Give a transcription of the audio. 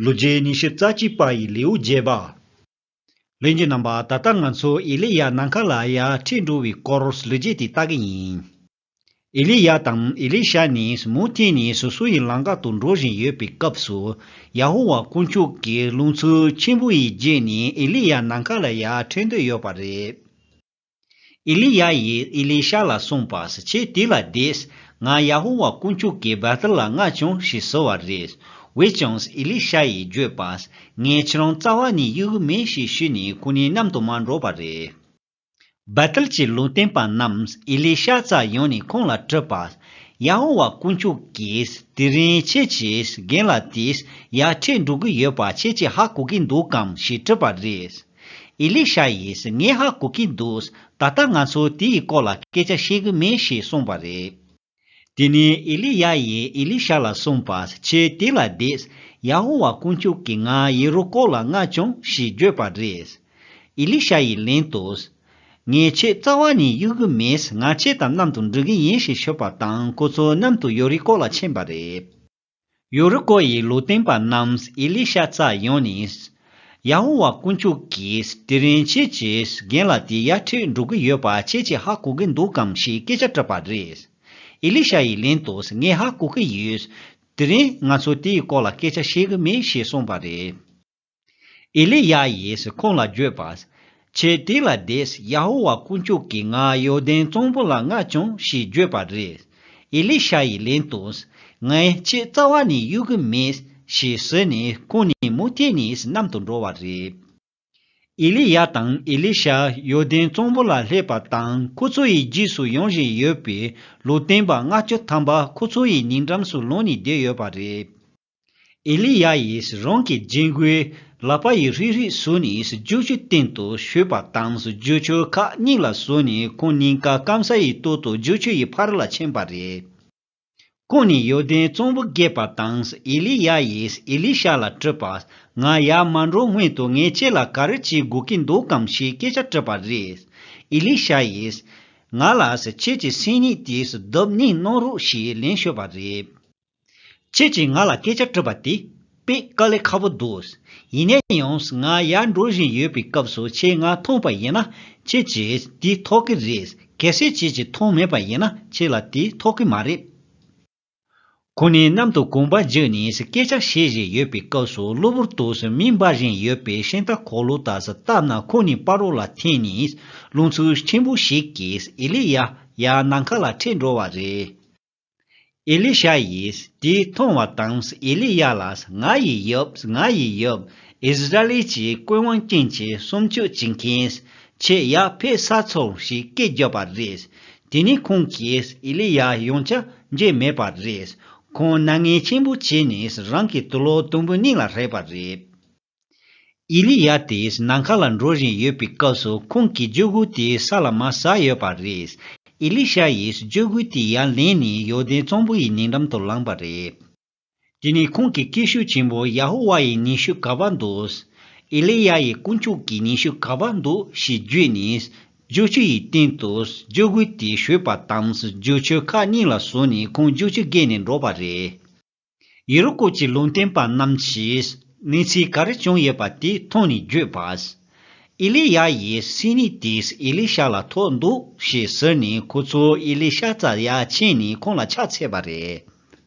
ལོ་རྗེས་ཉི་ཤུ་རྩ་གཅིག་པ་ཡི་ལེའུ་བརྒྱད་པ། ལན་གྱི་རྣམ་པ་ད་ལྟ་ང་ཚོ་ཨེ་ལི་ཡཱ་ནམ་མཁའ་ལ་ཡར་འཁྲིད་འགྲོ་བའི་སྐོར་ལོ་རྗེས་དེ་ལྟ་གི་ཡིན། ཨེ་ལི་ཡཱ་དང་ཨེ་ལི་ཤ་ནི་མུ་མཐུད་ནས་སོ་སོ་ཡི་ལམ་ཁ་དུ་འགྲོ་བཞིན་ཡོད་པའི་སྐབས་སུ་ཡ་ཧོ་ཝཱ་དཀོན་མཆོག་གིས་རླུང་འཚུབ་ཆེན་པོ་ཡི་རྗེས་ནས་ཨེ་ལི་ཡཱ་ནམ་མཁའ་ལ་ཡར་འཁྲིད་འདོད་ཡོད་པ་རེད། ཨེ་ལི་ཡཱ་ཡིས་ཨེ་ལི་ཤཱ་ལ་གསུངས་པར་ཁྱེད་དེ་ལ་བསྡད། ང་ཡ་ཧོ་ཝཱ་དཀོན་མཆོག་གིས་བེ་ཐེལ་ལ་རྔ་བྱུང་ཞེས་ཟེར་བ་རེད། འོན་ཀྱང་ཨེ་ལི་ཤཱ་ཡིས་བརྗོད་པ། ངས་ཁྱེད་རང་རྩ་བ་ནས་གཡོ་གི་མིན་ཞེས་ཞུས་ནས་ཁོ་གཉིས་མཉམ་དུ་མ་འགྲོ་བ་རེད། བེ་ཐེལ་གྱི་ལུང་བསྟན་པ་རྣམས་ཨེ་ལི་ཤཱ་རྩ་ཡོང་ནས་ཁོང་ལ་དྲིས་པ། ཡ་ཧོ་ཝཱ་དཀོན་མཆོག་གིས་དེ་རིང་ཁྱེད་ཀྱི་རྒན་ལ་དེས་ཡར་འཕྲད་འགྲོ་གི་ཡོད་པ་ཁྱེད་ཀྱིས་ཧ་གོ་གི་འདུག་གམ་ཞེས་དྲིས་པ་རེད། ཨེ་ལི་ཤ་ཡིས་ངས་ཧ་གོ་གིན་འདུག་ད་ལྟ་ང་ཚོ་དེའི་སྐོར་ལ་སྐད་ཆ་བཤད་གི་མེད་ཞེས་གསུངས་པ་རེད། དེ་ནས་ཨེ་ལི་ཡཱ་ཡིས་ཨེ་ལི་ཤ་ལ་གསུངས་པ། ཁྱོད་དེ་ལ་བསྡད། ཡ་ཧོ་ཝཱ་དཀོན་མཆོག་གིས་ང་ཡེ་རུ་ཀོ་ལ་མངགས་བྱུང་ཞེས་བརྗོད་པ་རེད། ཨེ་ལི་ཤ་ཡིས་ལན་དུ། ངས་ཁྱོད་རྩ་བ་ནས་གཡུག་གི་མེད་ང་ཁྱོད་དང་མཉམ་དུ་འགྲོ་གི་ཡིན་ཞེས་ཞུས་པ་དང་ཁོ་ཚོ་མཉམ་དུ་ཡོ་རི་ཀོ་ལ་ཕྱིན་པ་རེད། ཡུ་རི་ཀོ་ཡི་ལུས་རྟེན་པ་རྣམས་ཨེ་ལི་ཤ་བཙའ་ཡོང་ནས། ཡ་ཧོ་ཝཱ་དཀོན་མཆོག་གིས་དེ་རིང་ཁྱེད་ཀྱི་རྒན་ལ་དེ་ཡར་འཁྲིད་འགྲོ་གི་ཡོད་པ་ཁྱེད་ཀྱིས་ཧ་གོ་གི་འདུག་གམ་ཞེས་སྐད་ཆ་དྲིས་པ་རེད། ཨེ་ལི་ཤ་ཡིས་ལན་དུ་ངས་ཧ་གོ་གི་ཡོད། དེ་རིང་ང་ཚོས་དེའི་སྐོར་ལ་སྐད་ཆ་བཤད་གི་མེད་ཞེས་གསུངས་པ་རེད། ཨེ་ལི་ཡཱ་ཡིས་ཁོང་ལ་བརྗོད་པ། ཁྱེད་དེ་ལ་བསྡད། ཡ་ཧོ་ཝཱ་དཀོན་མཆོག་གིས་ང་ཡོར་དན་གཙང་པོ་ལ་མངགས་བྱུང་ཞེས་བརྗོད་པ་རེད། ཨེ་ལི་ཤ་ཡིས་ལན་བཏོན། ངས་ཁྱེད་རྩ་བ་ནས་གཡོལ་གི་མེད། ཞེས་ཟེར་ནས་ཁོང་ནི་མུ་མཐའི་ནས་གནམ་དུ་འགྲོ་བ་རེད། ཨེ་ལི་ཡཱ་དང་ཨེ་ལི་ཤ་ཡོར་དན་གཙང་པོ་ལ་སླེབས་པ་དང་ཁོ་ཚོ་ཡི་རྗེས་སུ་ཡོང་བཞིན་ཡོད་པས་ལུས་རྟེན་པ་ལྔ་བཅུ་ཐམ་པ་ཁོ་ཚོ་ཡི་ཉེ་འགྲམ་སུ་ལངས་ནས་བསྡད་ཡོད་པ་རེད། ཨེ་ལི་ཡཱ་ཡིས་རང་གི་རྒྱན་གོས་ལག་པ་ཡི་རིགས་རིགས་སུ་ནས་རྒྱུག་ཆུའི་སྟེང་དུ་བཞུས་པ་དང་རྒྱུག་ཆུ་ཁ་སྙིང་ལ་ཟུག་ནས་ཁོང་སྙིང་ག་སྐམ་ས་ཡི་སྟོད་དུ་རྒྱུག་ཆུ་ཡི་ཕར་ལ་ཕྱིན་པ་རེད། ཁོང་ནི་ཡོར་དན་གཙང་པོ་བརྒལ་པ་དང་ཨེ་ལི་ཡཱ་ཡིས་ཨེ་ལི་ཤ་ལ་དྲིས་པ། ང་ཡར་མ་འགྲོ་སྔོན་དུ་ངས་ཁྱེད་ལ་ག་རེ་བྱེད་དགོས་ཀྱི་འདུག་གམ་ཞེས་སྐད་ཆ་དྲིས་པ་རེད། ཨེ་ལི་ཤ་ཡིས། ང་ལ་ཁྱེད་ཀྱི་སེམས་ཉིད་དེ་བརྡབ་གཉིས་གནང་རོགས་ཞེས་ལན་ཤོད་པ་རེད། ཁྱེད་ཀྱིས་ང་ལ་སྐད་ཆ་དྲིས་པ་དེ་དཔེ་དཀའ་ལས་ཁག་པོ་འདུག་ཡིན་ནའི་ཡང་ང་ཡར་འགྲོ་བཞིན་ཡོད་པའི་སྐབས་སུ་ཁྱེད་ང་མཐོང་པ་ཡིན་ན་ཁྱེད་ཀྱིས་དེ་ཐོག་གི་རེད་གལ་སྲིད་ཁྱེད་ཀྱིས་མཐོང་མེད་པ་ཡིན་ན་ཁྱེད་ལ་དེ་ཐོག་གི་མ་རེད། ཁོ་ནི་གནམ་དུ་གོམ་པ་རྒྱུག་ནས་སྐད་ཆ་བཤད་བཞིན་ཡོད་པའི་སྐབས་སུ་གློ་བུར་དུ་མིག་འབར་བཞིན་ཡོད་པའི་ཤིང་རྟ་གོག་ལུག་དག་བཏབ་ན་ཁོ་ནི་དཔའ་རོགས་ལ་འཐེན་ནས་རླུང་འཚུབ་ཆེན་པོ་ཞིག་གིས་ཨེ་ལི་ཡཱ་ཡཱ་ནམ་མཁའ་ལ་འཁྲིད་འགྲོ་བ་རེད། ཨེ་ལི་ཤཱ་ཡིས་དེ་མཐོང་བ་དང་ཨེ་ལི་ཡཱ་ལ་ང་ཡི་ཡབ་ང་ཡི་ཡབ་ཨིས་ར་ཨེལ་གྱི་དཔོན་དབང་ཅན་གྱི་སུམ་ཅུ་བྱེད་མཁན་ཆེས་ཡག་ཕེ་ས་ཚོར་ཞིག་སྐད་རྒྱབ་པ་རེད་དེ་ནས་ཁོང་གིས་ཨེ་ལི་ཡཱ་ཡོང་ཆ་མཇལ་མེད་པ་རེད་ཁོང་སྣ་ངན་ཆེན་པོ་བྱས་ནས་རང་གི་དུ་ལོག་དུམ་བུ་སྙིང་ལ་ཧྲེད་པ་རེད། ཨེ་ལི་ཡཱ་དེས་ནམ་མཁའ་ལ་འགྲོ་བཞིན་ཡོད་པའི་སྐབས་སུ་ཁོང་གིས་སྤྱོད་སྒོ་དེ་ས་ལ་མ་ཟགས་ཡོད་པ་རེད། ཨེ་ལི་ཤཱ་ཡིས་སྤྱོད་སྒོ་དེ་ཡར་ལེན་ནས་ཡོར་དན་གཙང་པོ་ཡི་ཉེ་འགྲམ་དུ་ལངས་པ་རེད། དེ་ནི་ཁོང་གི་སྐད་ཤུགས་ཆེན་པོ་ཡ་ཧོ་ཝཱ་ཡི་ཉི་ཤུ་ག་པར་འདུག། ཨེ་ལི་ཡཱ་ཡིས་དཀོན་མཆོག་གི་ཉི་ཤུ་ག་པར་འདུག་ཞེས་བརྗོད་ནས། རྒྱུག་ཆུ་ཡི་སྟེང་དུ་སྤྱོད་སྒོ་དེ་བཞུད་པ་དང་རྒྱུག་ཆུ་ཁག་གཉིས་ལ་ཟུག་ནས་ཁོང་རྒྱུག་ཆུ་བརྒལ་ནས་འགྲོ་བ་རེད། ཡེ་རུ་ཀོ་གྱི་ལུང་བསྟན་པ་རྣམས་ཀྱིས་གནས་ཚུལ་ག་རེ་བྱུང་ཡོད་པ་དེ་མཐོང་ནས་བརྗོད་པ། ཨེ་ལི་ཡཱ་ཡིས་སྲིང་མོ་དེས་ཨེ་ལི་ཤ་ལ་ཐོག་འདུག་ཞེས་ཟེར་ནས་ཁོ་ཚོས་ཨེ་ལི་ཤ་རྩྭ་ཡར་ཕྱེས་ནས་ཁོང་ལ་ཕྱག་འཚལ་བ་རེད།